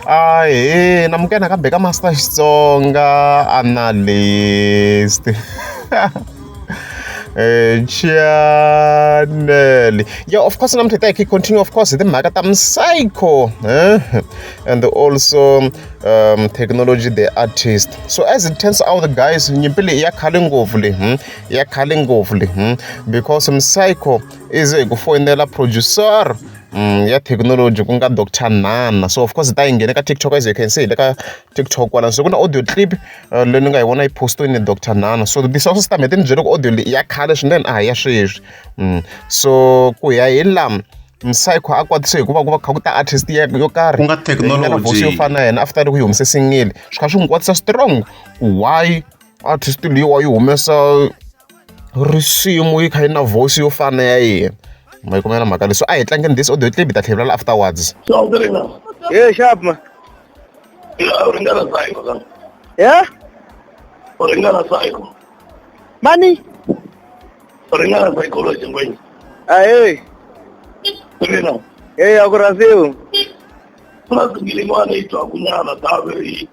ahee namukela nakambe ka master xitsonga analyst Eh, channel yeah of course namhlanje take continue of course timhaka ta psycho eh? and also um, technology the artist so as it turns out guys nyimpi leyi ya khale ngopfu le hmm? ya khale ngopfu le hmm? because psycho is a kufoyinela producer um ya thekinoloji ku nga doctor Nana so of course hi ta yi nghena eka TikTok as you can see hi le ka TikTok kwala so ku na audio clip uh, leyi ni nga yi vona yi postiwe ni doctor Nana so this also system hete ni byele ku audio leyi ya khale swinene a hi ya sweswi mm. so ku ya hi lama msayikho a kwatise hikuva ku va kha ku ta artist ya yo karhi ku nga technology yo fana na yena after loko yi humese singile swi kha swi n'wi kwatisa strong why artist leyiwa yi humesa risimu yi kha yi na voice yo fana ya yena ma yi kumela mhaka leswi a hi tlangeni this audio clip ta tlhelela afterwards ye sharp ma u ringana psycho ka ya u ringana psycho mani u ringana psychology ngwenyi a hey mina hey akurasiwu plus ngilingwana itwa kunyana tave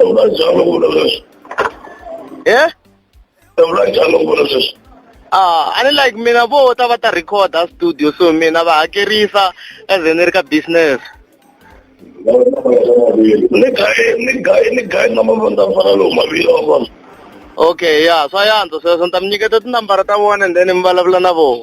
unajalo kuvula sweswi he unajalo kuvula sweswi Ah, a ni like mina vo ta va ta recorda studio so mina va hakerisa as ni ri ka business ni gaye ni gaye ni gaye na mavandza fana lowu mavila wa vona okay ya swa yantswa sweswo ni ta mi nyiketa tinambara ta vona and then mi vulavula na vona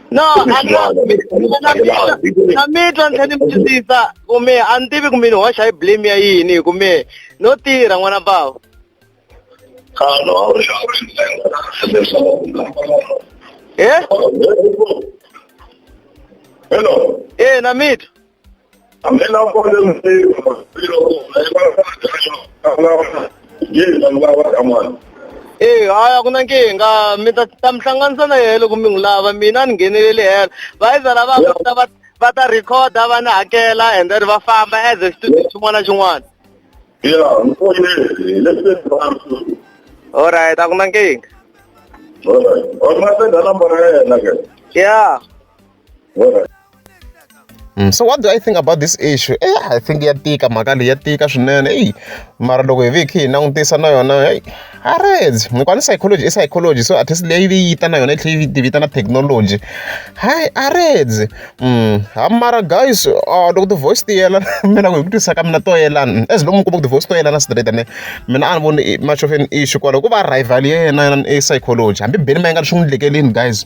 no na mitwa ni tlhe ni mutwisisa kume a ni tivi kumbe ni hoxa hi blame ya yini hi kume no tirha n'wana bava e eh? hello e eh, na mitwa eyi hayi a ku na nkingha mi ta ta mi hlanganisa na yena loko mi n'wi lava mina ni ngheneleli helo vayiza lava va ta va va ta rhikhoda va ni hakela and then va famba as a studio xin'wana na xin'wana alright a ku na nkingha ya Mm, so what do I think about this issue? Eh, I think ya tika mhaka leyi ya tika swinene eyi mara loko hi ve hi khe hi langutisa na yona eyi a reds hikuva ni psychology i psychology so at least leyi yi ta na yona yi tlhela yi tivita na technology hayi a reds mm, ha mara guys uh, loko ti-voice ti yelana mina ku hi ku twisisa ka mina to yelana as long mi kuma ku ti-voice to yelana straight ene mina a ni voni much of an issue kwalaho ku va rival ya yena yena i psychology hambi beni ma yi nga ri swi n'wi lekelini guys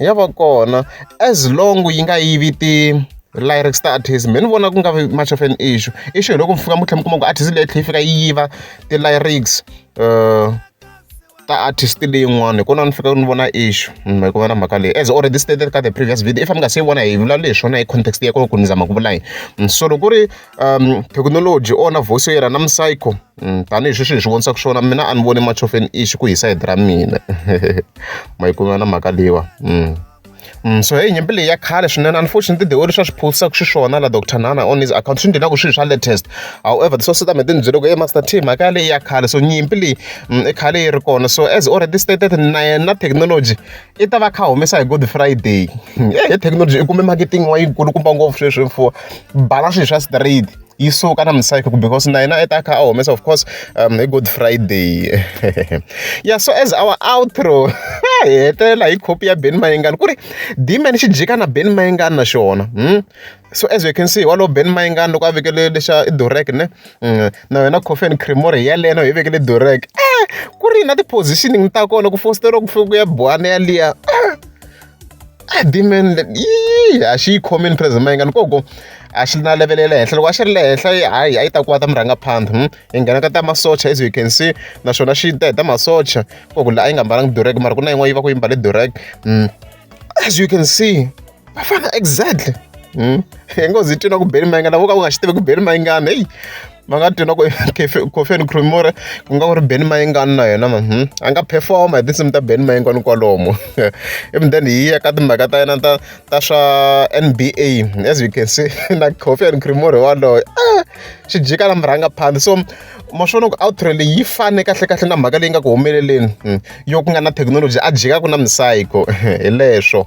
ya va kona as long yi nga yivi ti lyrics ta artist me ni vona ku nga vi much of an issue issue hi loko mi fika mi tlhela mi kuma ku artist leyi tlhela yi fika yi yiva ti lyrics uh, ta artist leyin'wana hi kona ni fika ni vona issue mm, hi ku vona mhaka leyi as already stated ka the previous video if mi nga se yi vona hi vulavula hi swona hi context ya kona ku ni zama ku vula yini mm, so loko ku ri thekinoloji u onha voice ya yena na msayiko tanihi sweswi hi swi vonisaka swona mina a ni voni machofeni i xi ku hi sayiti ra mina mayikumana mhaka leyiwa Mm, so hey nyimpi leyi ya khale swinene unfortunately the way leswi a swi phosisaka xiswona la dr nana on his account swi ndlelaka swilo swa latest however the source tame ti ni byele ku e master team mhaka ya leyi ya khale so nyimpi leyi mm, i khale yi ri kona so as already stated na yena technology i ta va a kha a humesa hi good friday e thekinoloji i kume marketing wa yikulukumba ngopfu sweswi mfuwo bala swilo swa straight yi suka na misayiko because na yena i ta kha a humesa of course um, hi good friday yeah so as our outro hi hetelela hi copy ya ben mayengani ku ri dman xi jika na ben mayengani na xona hmm? So as we can see walowo Ben Mayengani loko a vekele lexa i Durek ne na wena Coffee and Creamery hi yaleyo na yi vekele Durek eh ku ri na ti-positioning ta kona ku fositela ku fika ku ya buwana yaliya ah demon yi a xi yi khomini President Mayengani koko a xi na level ya le henhla loko a xi ri le henhla hayi a yi ta kuva ta murhangaphandha hmm? yi nghena ka ta masocha as you can see naswona xi ta hi ta masocha koko la a yi nga mbalanga Durek mara ku na yin'wana yi va ku yi mbale Durek hmm. as you can see va fana exactly hmm? hi ngo zi twina ku beli mayingana vo ka ku nga xi tivi ku beli mayingana heyi va nga twina ku cofen cremore ku nga ku ri beni mayingana na yena man hmm? a nga performa hi tinsimu ta beni mayingana kwalomu even then hi ya ka timhaka ta yena ta ta swa n b a as you can see na cofen cremore waloyo a ah, xi jika na murhanga phandi so ma swona ku outro leyi yi fane kahle kahle na mhaka leyi nga ku humeleleni hmm. yo ku nga na thekinoloji a jikaku na misayiko hi leswo